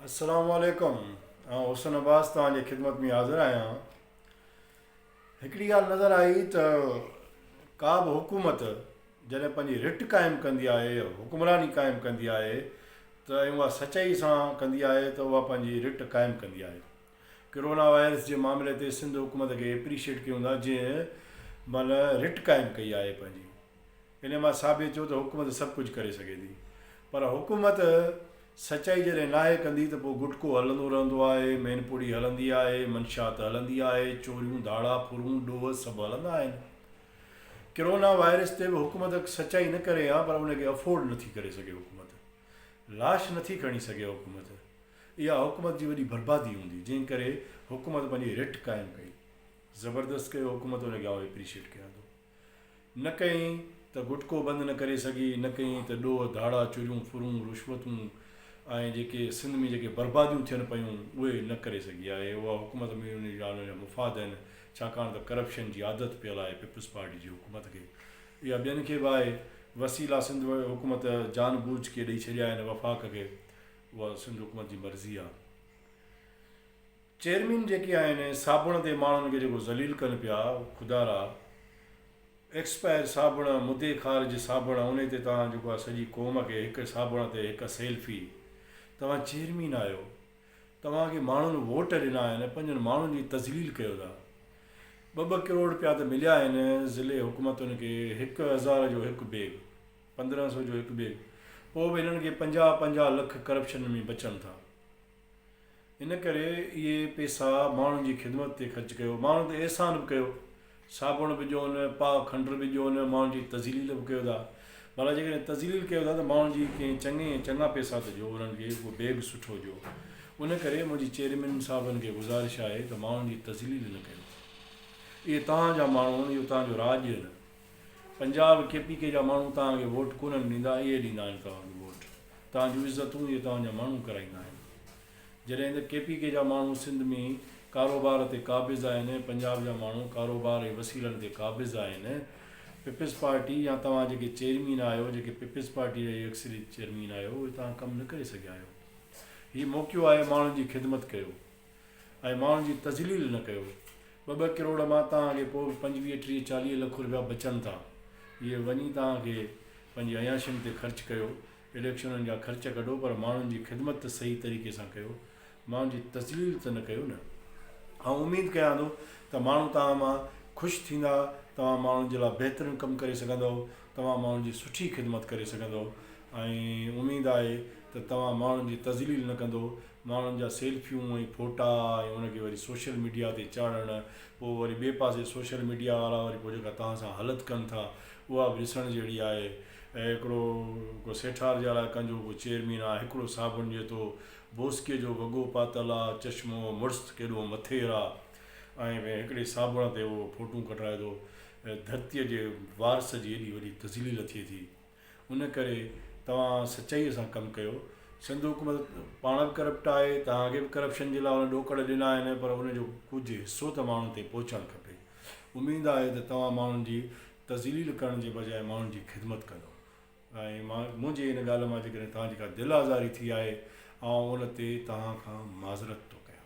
السلام عليڪم آئون حسن عباس توهان جي خدمت ۾ حاضر آهيان هڪڙي ڳالهه نظر آئي ته ڪا به حڪومت جڏهن پنهنجي رٽ قائم ڪندي آهي حڪمراني قائم ڪندي آهي ته ۽ اها سچائي سان ڪندي آهي ته اها پنهنجي رٽ قائم ڪندي آهي ڪرونا وائرس جي معاملي تي سنڌ حڪومت کي اپريشيٽ ڪيون ٿا جنهن مل رٽ قائم ڪئي آهي پنهنجي انهيء مان ثابت ٿيو ته حڪومت سڀ ڪجهه ڪري سگهي ٿي، پر حڪومت سچائي جڏهن ناهي ڪندي ته پوء گٽڪو هلندو رهندو آهي، مين پوڙهي هلندي آهي، منشيات هلندي آهي، چوريون، ڌاڙا، ڦرون، ڏوهه سڀ هلندا آهن. ڪرونا وائرس تي به حڪومت سچائي نه ڪري ها پر ان کي افورڊ نه ٿي ڪري سگهي حڪومت. لاش نه ٿي کڻي سگهي حڪومت. اها حڪومت جي وڏي بربادي هوندي جنهن ڪري حڪومت پنهنجي رٽ قائم ڪئي. زبردست ڪيو حڪومت ان کي آئون اپريشيٽ ڪيان ٿو. نه ڪئين ته گٽڪو بند نه ڪري سگهي، نه ڪئين ته ڏوهه، ڌاڙا، چوريون، ڦرون، رشوتون ۽ جيڪي سنڌ ۾ جيڪي برباديون ٿين پيون اهي نه ڪري سگهي آهي، اها حڪومت ۾ انهن جا انهن جا مفاد آهن، ڇاڪاڻ ته ڪرپشن جي عادت پيل آهي پيپلز پارٽي جي حڪومت کي، اها ٻين کي به آهي، وسيلا سنڌ حڪومت جان بوجھ ڪي ڏئي ڇڏيا آهن وفاق کي، اها سنڌ حڪومت جي مرضي آهي. چيئرمين جيڪي آهن صابڻ تي ماڻهن کي جيڪو ذليل ڪن پيا خدا را ايڪسپائر صابڻ مدي خارج صابڻ انهي تي توهان جيڪو آهي سڄي قوم کي هڪ صابڻ تي هڪ سيلفي توهان چيئرمين آهيو توهان کي ماڻهن ووٽ ڏنا آهن پنهنجن ماڻهن جي تذليل ڪيو ٿا ٻه ٻه ڪروڙ پيا ته مليا آهن ضلعي حڪومتن کي هڪ هزار جو هڪ بيگ پندرهن سو جو هڪ بيگ پوء به هنن کي پنجاهه پنجاهه لک ڪرپشن ۾ بچن ٿا ان ڪري اهي پيسا ماڻهن جي خدمت تي خرچ ڪيو. ماڻهن تي احسان به ڪيو. صابڻ به ڏيون، پاء کنڊر به ڏيون، ماڻهن جي تذليل به ڪيو ٿا. ڀلا جيڪڏهن تذليل ڪيو ٿا ته ماڻهن جي ڪنهن چڱي ۽ چڱا پيسا ته ڏيو، انهن کي ڪو بيگ سٺو ڏيو. ان ڪري منهنجي چيئرمين صاحبن کي گذارش آهي ته ماڻهن جي تذليل نه ڪيو. اهي توهان جا ماڻهو آهن، اهو توهان جو راڄ آهن. پنجاب ڪي پي ڪي جا ماڻهو توهان کي ووٽ ڪونهن ڏيندا اهي ڏيندا آهن توهان کي ووٽ توهان جون عزتون اهي توهان جا ماڻهو ڪرائيندا آهن جڏهن ته ڪي پي ڪي جا ماڻهو سنڌ ۾ ڪاروبار تي قابض آهن ۽ پنجاب جا ماڻهو ڪاروبار ۽ وسيلن تي قابض آهن پيپلز پارٽي يا توهان جيڪي چيئرمين آهيو جيڪي پيپلز پارٽي جا اڪثريت چيئرمين آهيو اهي توهان ڪم نه ڪري سگهيا آهيو هي موقعو آهي ماڻهن جي خدمت ڪيو. ۽ ماڻهن جي تذليل نه ڪيو. ٻه ٻه ڪروڙ مان توهان کي پوء به پنجويهه ٽيهه چاليهه لک رپيا بچن ٿا. اهي وڃي توهان کي پنهنجي عياشين تي خرچ ڪيو. اليڪشنن جا خرچ ڪڍو پر ماڻهن جي خدمت ته صحيح طريقي سان ڪيو. ماڻهن جي تذليل ته نه ڪيو نه. آئون اميد ڪيان ٿو ته ماڻهو توهان مان خوش ٿيندا. توهان ماڻهن جي لاء بهترين ڪم ڪري سگهندؤ. توهان ماڻهن جي سٺي خدمت ڪري سگهندؤ ۽ اميد آهي ته توهان ماڻهن جي تذليل نه ڪندو، ماڻهن جا سيلفيون ۽ ڦوٽا ۽ ان کي وري سوشل ميڊيا تي چاڙهڻ، پوء وري ٻئي پاسي سوشل ميڊيا وارا وري پوء جيڪا توهان سان هلت ڪن ٿا اها به ڏسڻ جهڙي آهي. هڪڙو ڪو سيٺار جي الاء ڪنجهو ڪو چيئرمين آ، هڪڙو صابڻ جيتو بوسڪي جو وڳو پاتل آ، چشمو، مڙس ته ڪيڏو مٿير آ ۽ هڪڙي صابڻ تي اهو ڦوٽون ڪڍرائي ٿو. ڌرتيء جي وارث جي ايڏي وڏي تذليل ٿئي ٿي. ان ڪري توهان سچائيء سان ڪم ڪيو. سنڌ حڪومت پاڻ به ڪرپٽ آهي، توهان کي به ڪرپشن جي لاء ان ڏوڪڙ ڏنا آهن، پر ان جو ڪجهه حصو ته ماڻهن تائين پهچڻ کپي. اميد آهي ته توهان ماڻهن جي تذليل ڪرڻ جي بجاء ماڻهن جي خدمت ڪندو ۽ منهنجي ان ڳالهه مان جيڪڏهن توهان جي ڪا دل آزاري ٿي آهي، آئون ان تي توهان کان معذرت ٿو ڪيان.